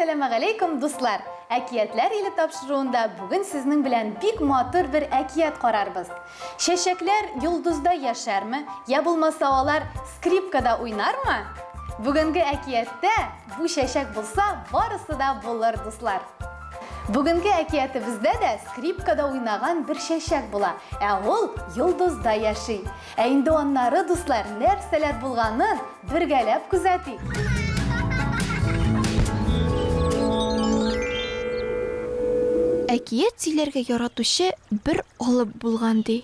Әссәламә галәйкүм, дуслар! Әкиятләр иле тапшыруында бүген сезнең белән бик матур бер әкият карарбыз. Чәчәкләр йолдыздай яшәрме, йә булмаса алар скрипкада уйнармы? Бүгенге әкияттә бу чәчәк булса, барысы да булыр, дуслар. Бүгенге әкиятебездә дә скрипкада уйнаган бер чәчәк була, ә ул йолдызда яши. Ә инде аннары, дуслар, нәрсәләр булганын бергәләп күзәтик. Әкият сөйләргә яратучы бер Алып булган, ди.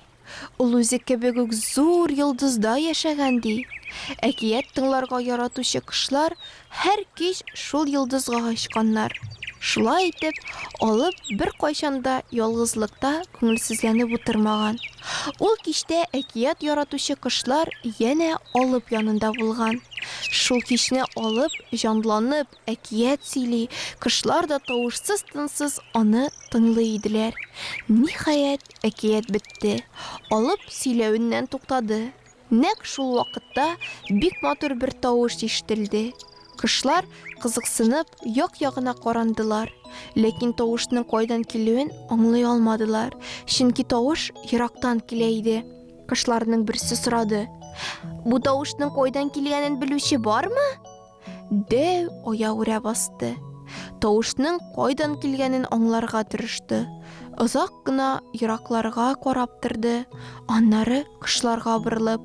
Ул үзе кебек үк зур йолдызда яшәгән, ди. Әкият тыңларга яратучы кошлар һәр кич шул йолдызга очканнар. Шулай итеп, Алып беркайчан да ялгызлыкта күңелсезләнеп утырмаган. Ул кичтә әкият яратучы кошлар янә Алып янында булган. Шул кичне Алып җанланып, әкият сөйли, кошлар да тавышсыз-тынсыз аны тыңлый иделәр. Ниһаять, әкият бетте. Алып сөйләвеннән туктады. Нәкъ шул вакытта бик матур бер тавыш ишетелде. Кошлар, кызыксынып, як-ягына карандылар, ләкин тавышның кайдан килүен аңлый алмадылар, чөнки тавыш ерактан килә иде. Кошларның берсе сорады. Бу тавышның кайдан килгәнен белүче бармы? Дәү оя үрә басты. Тавышның кайдан килгәнен аңларга тырышты. Озак кына еракларга карап торды, аннары кышларга борылып,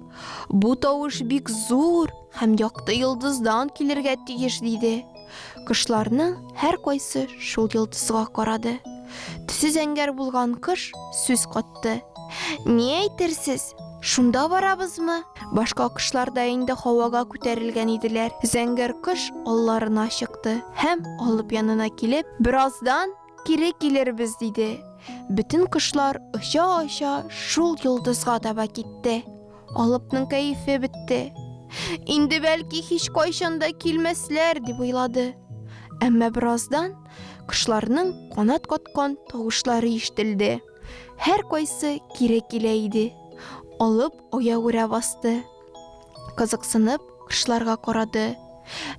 бу тавыш бик зур һәм якты йолдыздан килергә тиеш диде. Кышларның һәр кайсы шул йолдызга карады. Төсе зәңгәр булган кыш сүз кат кайтты. Ни әйтерсез? Шунда барабызмы? Башка кошлар да инде һавага күтәрелгән иделәр. Зәңгәр кош алларына чыкты һәм алып янына килеп, бераздан кире килербез диде. Бөтен кошлар оча-оча шул йолдызга таба китте. Алыпның кәефе бетте. Инде бәлки һич кайчан да килмәсләр дип уйлады. Әмма бераздан кошларның канат каткан тавышлары ишетелде. Һәр кайсы кире килә иде. Алып аягүрә басты. Кызыксынып кышларга карады.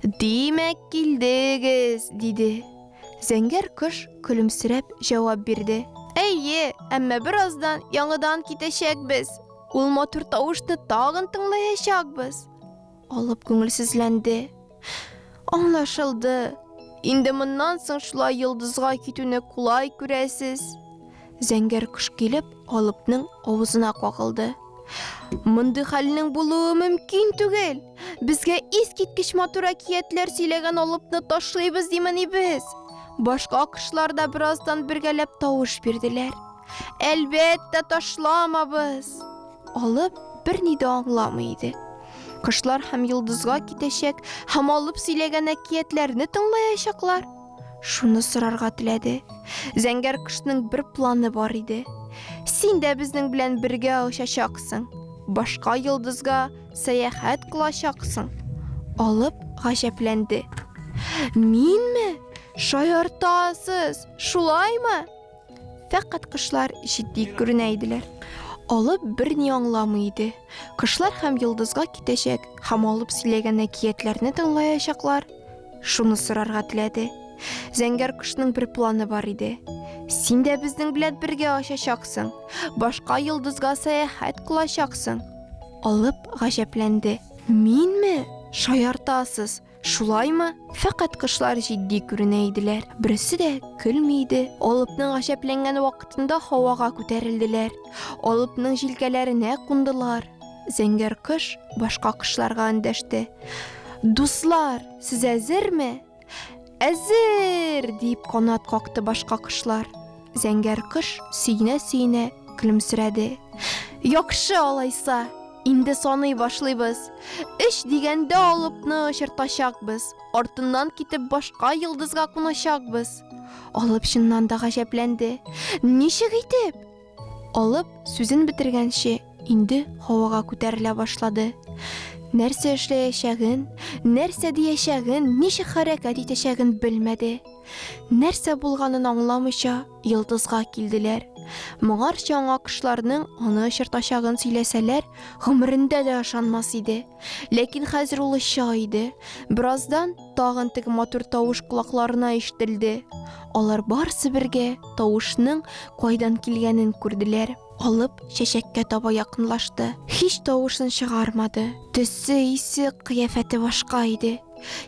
Димәк, килдегез, диде. Зәңгәр кыш көлемсерәп җавап бирде. Әйе, әмма бераздан яңадан китәчәкбез. Ул матур тавышны тагын тыңлаячакбыз. Алып күңелсезләнде. Аңлашылды. Инде моннан соң шулай йолдызга китүне кулай күрәсез. Зәңгәр кош килеп, Алыпның авызына кагылды. Мондый хәлнең булуы мөмкин түгел. Безгә искиткеч матур әкиятләр сөйләгән Алыпны ташлыйбыз димени без. Башка кошлар да бераздан бергәләп тавыш бирделәр. Әлбәттә, ташламабыз. Алып берни дә аңламый иде. Кошлар һәм йолдызга китәчәк, һәм алып сөйләгән әкиятләрне тыңлаячаклар. Шуны сорарга теләде. Зәңгәр кошның бер планы бар иде. Син дә безнең белән бергә очачаксың. Башка йолдызга сәяхәт кылачаксың. Алып гаҗәпләнде. Минме? Шаяртасыз, шулаймы? Фәкать кышлар җитди күренә иделәр. Алып берни аңламый иде. Кышлар һәм йолдызга китәчәк, һәм алып сөйләгән әкиятләрне тыңлаячаклар. Шуны сорарга теләде. Зәңгәр кошның бер планы бар иде. Син дә безнең белән бергә очачаксың. Башка йолдызга сәяхәт кылачаксың. Алып гаҗәпләнде. Минме? Шаяртасыз. Шулаймы? Фәкать кышлар җитди күренә иделәр. Берсе дә көлми иде. Алыпның гаҗәпләнгән вакытында һавага күтәрелделәр. Алыпның җилкәләренә кундылар. Зәңгәр кыш башка кышларга эндәште. Дуслар, сез әзерме? Әзер! дип канат какты башка кышлар. Зәңгәр кош сөенә-сөенә көлемсерәде. Яхшы алайса, инде саный башлыйбыз. Өч дигәндә алыпны очыртачакбыз, артыннан китеп башка йолдызга куначакбыз. Алып чыннан да гаҗәпләнде. Ничек итеп? Алып сүзен бетергәнче инде һавага күтәрелә башлады. Нәрсә эшләячәген, нәрсә диячәген, ничек хәрәкәт итәчәген белмәде. Нәрсә булганын аңламыйча, йолдызга килделәр. Моңарчы аңа кошларның аны очыртачагын сөйләсәләр, гомерендә дә ышанмас иде. Ләкин хәзер ул оча иде. Бераздан тагын теге матур тавыш колакларына ишетелде. Алар барсы бергә тавышның кайдан килгәнен күрделәр. Алып чәчәккә таба якынлашты. Һич тавышын чыгармады. Төсе, исе, кыяфәте башка иде.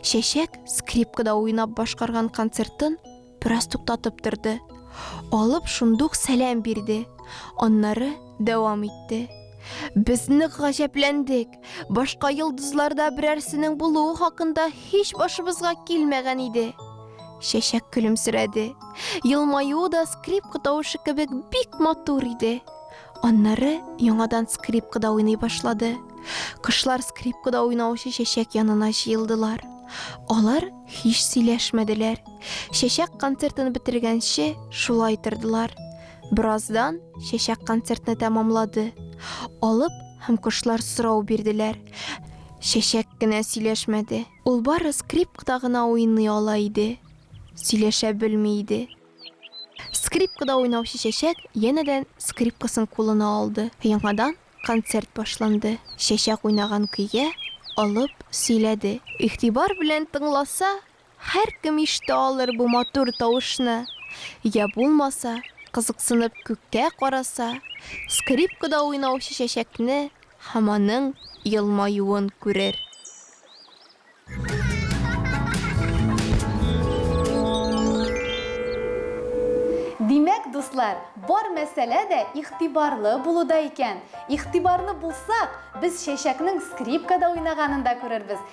Чәчәк скрипкада уйнап башкарган концертын бераз туктатып торды. Алып шундук сәлам бирде. Аннары дәвам итте. Без нык гаҗәпләндек. Башка йолдызларда берәрсенең булуы хакында һич башыбызга килмәгән иде. Чәчәк көлемсерәде. Елмаюы да скрипка тавышы кебек бик матур иде. Аннары яңадан скрипкада уйный башлады. Кышлар скрипкада уйнаучы чәчәк янына җыелдылар. Алар һич сөйләшмәделәр. Чәчәк концертын бетергәнче шулай тордылар. Бераздан чәчәк концертны тәмамлады. Алып һәм кошлар сорау бирделәр. Чәчәк кенә сөйләшмәде. Ул бары скрипкада гына уйный ала иде. Сөйләшә белми иде. Скрипкада уйнаучы чәчәк янәдән скрипкасын кулына алды. Яңадан концерт башланды. Чәчәк уйнаган көйгә Алып сөйләде. Игътибар белән тыңласа, Һәркем ишетә алыр бу матур тавышны. Йә булмаса, кызыксынып күккә караса, скрипкада уйнаучы чәчәкне һәм аның елмаюын күрер. Димәк, дуслар, бар мәсьәлә дә игътибарлы булуда икән. Игътибарлы булсак, без чәчәкнең скрипкада уйнаганын да күрербез,